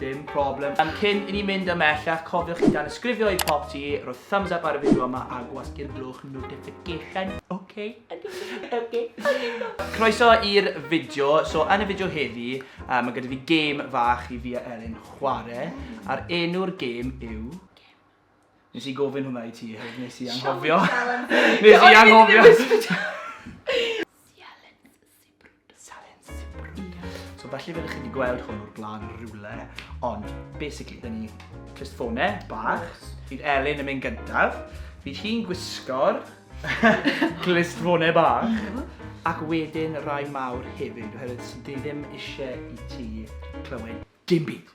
Dim problem. Yym, cyn i ni mynd ymhellach, cofiwch i danysgrifio i Pop Tee, rhoi thumbs up ar y fideo yma a gwasgu'r blwch notification, oce? Oce. Croeso i'r fideo, so yn y fideo heddi, yy ma' gyda fi gêm fach i fi a Elin chware, a'r enw'r gêm yw... Nes i gofyn hwnna i ti hefyd, nes i anghofio. Nes i anghofio! Sialens, sialens. Silence. So felly fe ydych chi wedi gweld hwn o'r blaen rhywle, ond basically dyn ni just ffone bach, fydd Elin yn mynd gyntaf, fydd hi'n gwisgo'r glist ffone bach, mhm. ac wedyn rai mawr hefyd, oherwydd sydd ddim eisiau i ti clywed dim byd.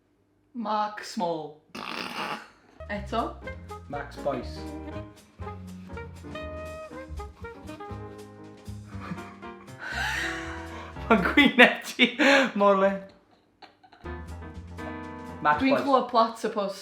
Mark Small. Eto. Max Boyce. Mae'n gwyneb ti mor le. Max Boyce. Dwi'n clywed plat y pws.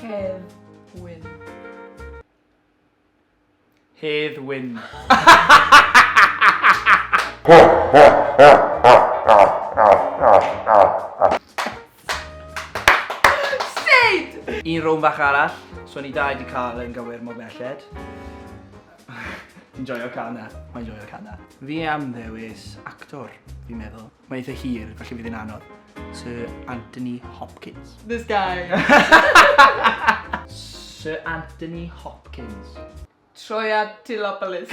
Hedd Wyn. Hedd Wyn. Sneud! Un rownd fach arall, so ni dau 'di cael yn gywir mor belled. Fi'n joio can 'na. Mae'n joio can 'na. Fi am ddewis actor, fi'n meddwl. Mae eitha hir, felly fydd hi'n anodd. Sir Anthony Hopkins. This guy! Sir Anthony Hopkins. Troia Tilopoulos.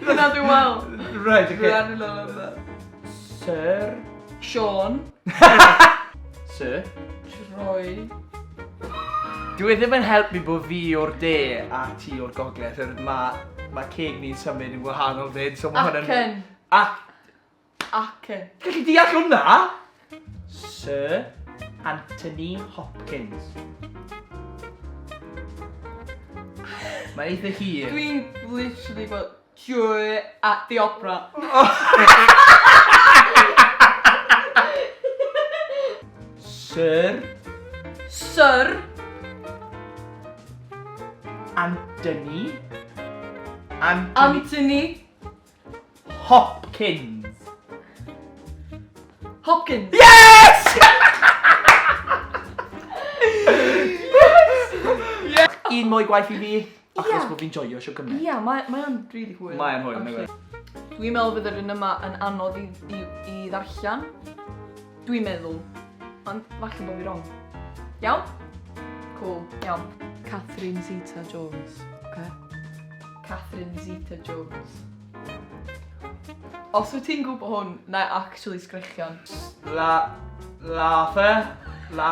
Dyna dwi'n meddwl. Reit, ocê. Run a la la la. Sir. Siôn. Sir. Troi. Dyw e ddim yn helpu bod fi o'r de a ti o'r gogledd oherwydd mae ceg ni'n symud yn wahanol 'fyd so mae hwn yn... Acen. Ac- Ac yn. Gallai deall hwnna! Sir Anthony Hopkins. Mae'n eitha hir. Dwi'n literally gweld Joy at the Opera. Sir. Sir. Anthony. Anthony. Anthony. Hopkins. Hopkins. Yes! Un mwy gwaith i fi, achos yeah. bod fi'n joio sio gymryd. Ie, yeah, mae'n mae really hwyl. Mae'n hwyl, mae'n hwyl. Dwi'n meddwl fydd yr un yma yn anodd i, i, i ddarllen. Dwi'n meddwl. Ond falle bod fi wrong. Iawn? Cool, iawn. Catherine Zeta Jones, oce? Catherine Zeta Jones. Os wyt ti'n gwybod hwn, na actually sgrechian. La... la fe? La...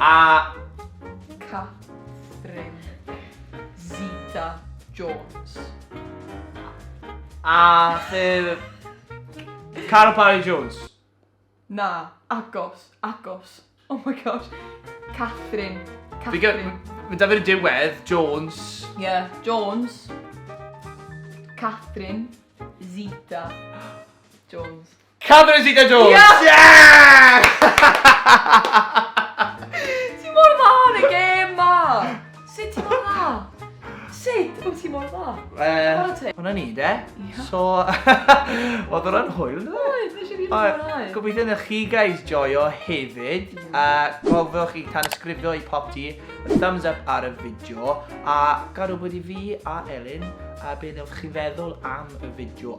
A. Catherine Zeta Jones. A. Carol Parry Jones. Na, agos, agos. Oh my gosh. Catherine. Catherine. Mae da fi'r diwedd, Jones. Ie, yeah, Jones. Catherine Zeta Jones. Catherine Zeta Jones! Yes! Yeah! Ti mor dda yn y gêm ma! Sut ti mor dda? Sut wyt ti mor dda? Chwarae Hwna ni de. So, oedd o'n anhwyl, dde? Oedd, nes i rili mwynhau. Gobeithio wneud chi guys joio hefyd. A cofiwch i tanysgrifio i pop ti, thumbs up ar y fideo, a gad wybod i fi a Elin a be wnewch chi feddwl am y fideo